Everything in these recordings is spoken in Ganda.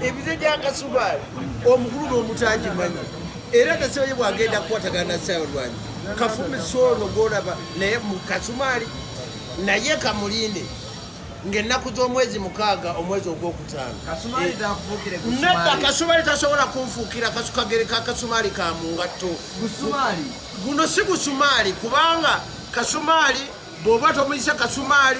ebize gyakasubaali omukulu n'omutagimanyi era nasabaye bwagenda kukwatagana nasayolwanyi kafumisa ono gwolaba naye mukasumaali naye kamulinde ngaennaku z'omwezi mukaaga omwezi ogwokutaano nadda kasumaali tasobola kunfuukira kasukagereka kasumaali ka mu ngatto guno si gusumaali kubanga kasumaali bw'oba tomuyise kasumaali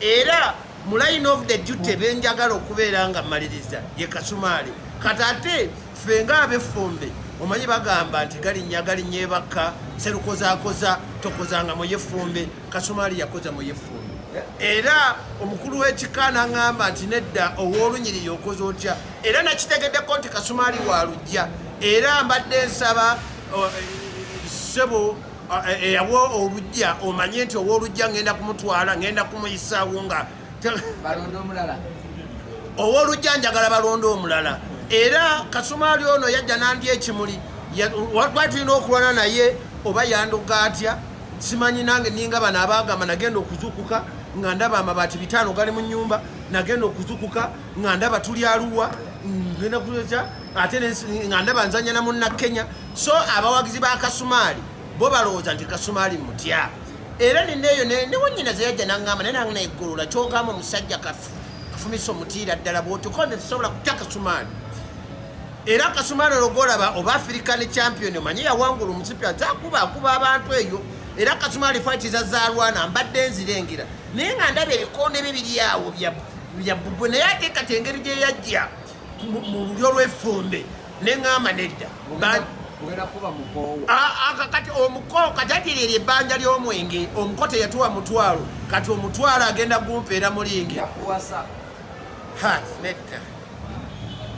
era mu line of the duty benjagala okubeera nga maliriza ye kasumaali kati ate ffe nga abeffumbe omanyi bagamba nti galinnya galinnya ebakka serukozakoza tokozanga muyefumbe kasumaali yakoza muyefumbe era omukulu w'ekika naŋamba nti nedda ow'olunyiriri okoze otya era nakitegeddeko nti kasumaali wa lujja era mbadde nsaba eh, ssebo eyawa eh, eh, olujja omanye nti owolujja ngenda kumutwala ngenda kumuyisaawo nga owolujja njagala balonda omulala era kasumaali ono yajja nandi ekimuli lwali tulina okulwana naye oba yandoga atya simanyi nange ninga bano abagamba nagenda okuzukuka nga ndaba amabaati bitaano gali mu nyumba nagenda okuzukuka nga ndaba tuli aluwa ngenda kuza ate nga ndaba nzanya na munna kenya so abawagizi ba kasumaali bo balowooza nti kasumaali mutya era neneeyo newanyina zeyajja nangamba naye nange naigolola kyogamba omusajja kafumisa omutiira ddala bwotuka nze tusobola kutya kasumaali era kasumaali ologolaba oba african champion omanye yawangula omusipi azakuba akuba abantu eyo era kasumaali fatiza zalwana mbadde nzirengera naye nga ndaba ebikondo ebyo biryawo bya bubwe naye atekati engeri gyeyajja mu lulyo lw'effumbe ne ŋŋamba nedda kati omuko kajatiri eryo ebbanja ly'omwenge omuko teyatuwa mutwalo kati omutwalo agenda gumpeera mulingi nedda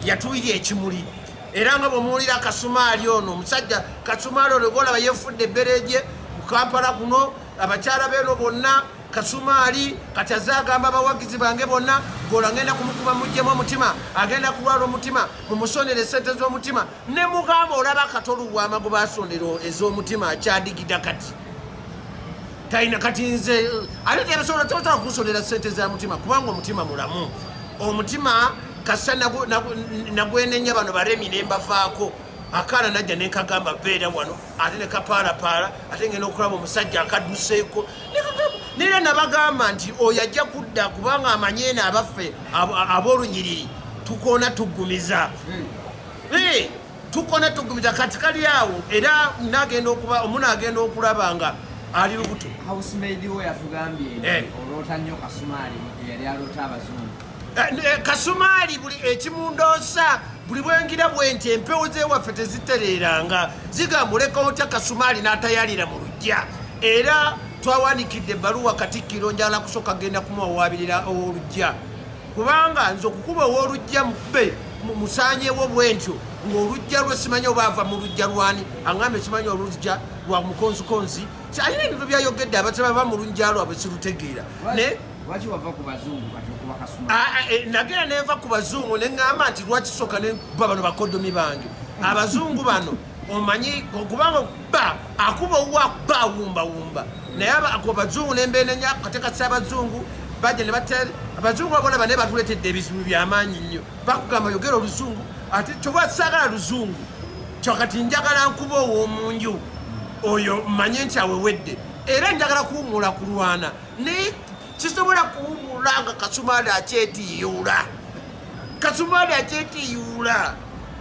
yatuwira ekimuli era nga bwemuwulira kasumaali ono omusajja kasumaali ono golaba yefudde ebbereje ku kampala kuno abakyala beeno bonna Kasumaali kati aze agamba abawagizi bange bonna gola ngenda kumukuba mujjemu omutima agenda kulwala omutima mumusonera esente z'omutima ne mugamba olaba kati olubwama gwe basondera ez'omutima akyadigida kati talina kati nze ate tebasobola tebasobola kumusondera sente za mutima kubanga omutima mulamu omutima kasa nagwenenya bano baremi nembafaako akaana najja nenkagamba beera wano ate ne kapaalapaala ate ngenda okulaba omusajja akadduseeko neera nabagamba nti oyo ajja kudda kubanga amanyi eno abaffe ab'olunyiriri tukoona tuggumiza hmm. eh, tukoona tuggumiza kati kali awo era nagenda okuba omuna agenda okulaba nga ali lubuto housemaid we yatugambye eh. oloota nnyo kasumaali yali aloota abazungu Eh, eh, kasumaali buli ekimundoosa buli bwengira bwenti empewo zewaffe tezitereeranga zigamba oleka otya kasumaali n'atayalira mu lujja era twawandikidde ebbaluwa katikkiro njala kusooka genda kumuwawaabirira ow'olujja kubanga nze okukuba ow'olujja mube musanyewo bwentyo ng'olujja lwe simanyi oba ava mu lujja lwani aŋambe simanyi olujja lwa mukonzikonzi alina ebintu byayogedde abataba ba mu lujja lwabwe sirutegeera lwaki wava ku bazungu kati okuba kasuma ah, ah, eh, nagera nenva ku bazungu neŋŋamba nti lwaki soka ne ba bano bakodomi bange abazungu bano omanyi okubanga ba akuba owa ba wumba wumba naye ako bazungu nembeenenya katekasa abazungu baja ne batel abazungu abolaba naye batuletedde ebizibu byamaanyi nnyo bakugamba yogera oluzungu ate kyoba saagala luzungu kyokati njagala nkuba ow'omunju oyo mmanye nti awewedde era njagala kuwumula kulwana naye sisobola kuwumula nga kasumaali akyetiyuula kasumaali akyetiyuula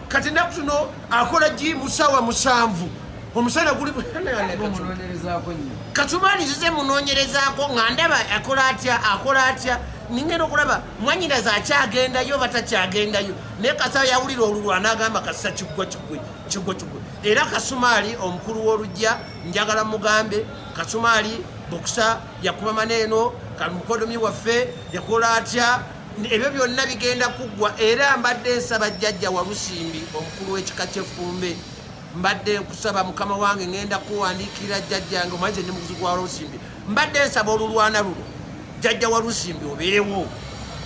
kati naku tuno akola gi musawa musanvu omusana guli kasumaali zize munonyerezaako nga ndaba akola atya akola atya ningenda okulaba mwanyinaza akyagendayo oba takyagendayo naye kasaa yawulira olulwa n'agamba kasisa kiggwa kigwe kiggwa kigwe era kasumaali omukulu w'olugya njagala mugambe kasumaali bokisa yakuba mana eno kamukodomi waffe yakola atya ebyo byonna bigenda kuggwa era mbadde nsaba jjajja walusimbi omukulu w'ekika ky'effumbe mbadde nkusaba mukama wange ngenda kuwandiikira jjajjange omanyi kyendi mukuzi gwa lusimbi mbadde nsaba olulwana luno jjajja walusimbi obeerewo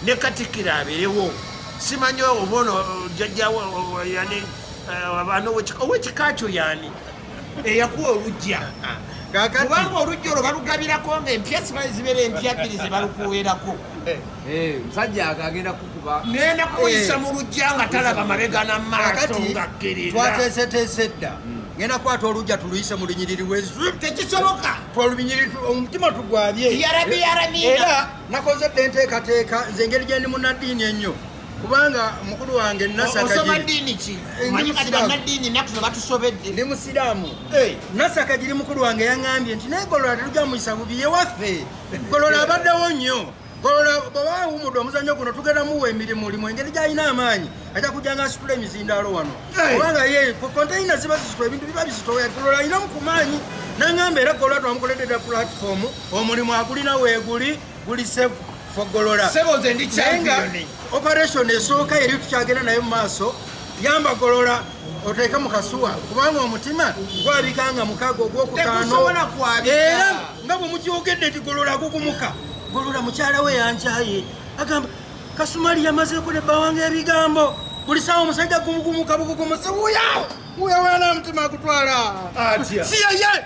ne katikkiro abeerewo simanyi obono jjajja yani eh, abaana owekika kyo yani eyakuwa olujja kubanga olujja olwo balugabirako nga empya sibali zibeera empya bbiri zebalukuweerako eh. eh, musajja agagenda kukuba nenda kuyisa eh. mu lujja nga talaba mabega na maaso nga kkirira twateeseteese dda hmm. ngenda kwata olujja tuluyise mu lunyiriri lwetekisoboka tolubinyiriri omutima tugwabye era nakoze dde enteekateeka nze engeri gyendi munaddiini ennyo kubanga mukulu wange nasakagirindi musiraamu eh. nasakagiri mukulu wange yaŋambye nti naye golola teruja muyisa bubi yewaffe golola abaddewo nnyo golola bwaba awumudde omuzannyo guno tugenda muwa emirimu limu engeri gyalina amaanyi ajja kujja nga asitula emizindaalo wano kubanga ye konteyina ziba zisitula ebintu biba bizitoya golola alinamu ku maanyi naŋamba era golola twamukoledde dda pulatifomu omulimu agulina weeguli guli save for Golola. Sebo nze ndi champion. Operation esooka yali tukyagenda nayo mu maaso yamba Golola oteeke mu kasuwa kubanga omutima gwabika nga mukago ogwokutaano era nga bwe mukyogedde nti Golola gugumuka Golola mukyala we yankyaye agamba Kasumali yamazeeko ne bawanga ebigambo buli sawa omusajja gumugumuka bugugumusi wuya wuya wana mutima agutwala atya si yeye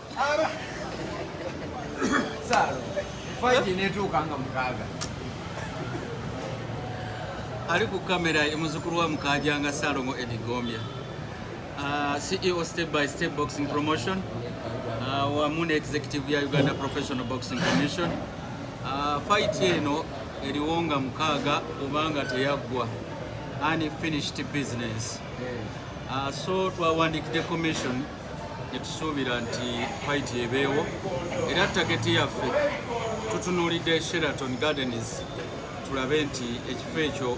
ali ku kamera emuzukulu wa mukajanga salomo edigombya uh, ceo step by step boxing promotion uh, wamu ne executive ya uganda professional boxing commission uh, fight eno eriwo nga mukaaga obanga teyaggwa unfinished business uh, so twawandikidde commission Tetusuubira nti fayiti ebeewo era tageti yaffe tutunuulidde Sheraton Gardens tulabe nti ekifo ekyo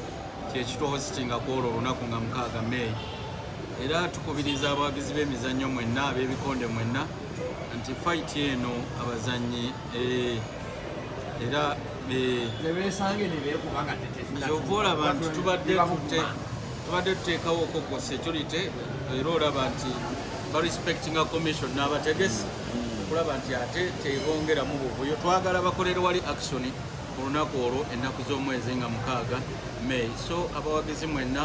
kyekituhositinga ku olwo olunaku nga mukaaga meeyi era tukubiriza abawagizi b'emizannyo mwenna ab'ebikonde mwenna nti fayiti eno abazannyi eh, era kyova olaba nti tubadde tuteekawo okoko security era olaba nti barespectinga commission n'abategesi okulaba nti ate tebongeramu buvuyo twagala bakolere wali action ku lunaku olwo ennaku z'omwezi nga mukaaga may so abawagizi mwenna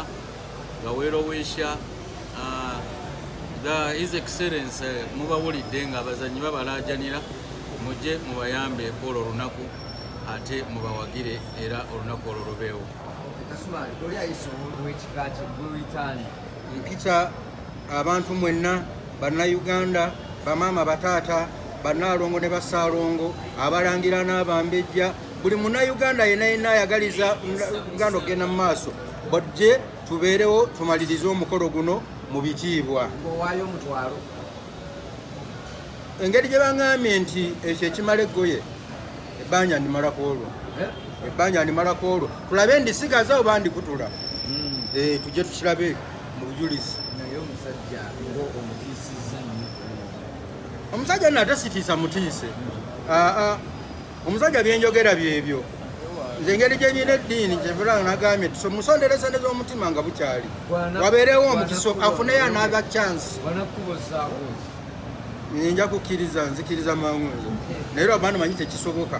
nga weerowesha ah, his excellence eh, mubawulidde nga abazanyi babalajanira mujje mubayambeeko olwo olunaku ate mubawagire era olunaku olwo lubeewo mpita abantu mwenna bannayuganda bamaama bataata bannaalongo ne basaalongo abalangira n'abambejja buli munauganda yena yena ayagaliza uganda okugenda mu maaso bajje tubeerewo tumalirize omukolo guno mu bitiibwa engeri gye baŋambye nti ekyo ekimala eggoye ebbanja ndimalako olwo eh? ebbanja ndimalako olwo tulabe ndisigaza oba ndikutula hmm. eh, tujje tukilabe mu bujulizi omusajja nate sitiisa mutiise hmm. aa ah, ah. Omusajja byenjogera byebyo nze engeri gyenyina eddiini kyevulanga nagambye nti musonderesende z'omutima nga bukyali wabeerewo omukiso afuneyo anaaga chance nja kukkiriza nzikiriza mangu ezo naye lwabantu manyi tekisoboka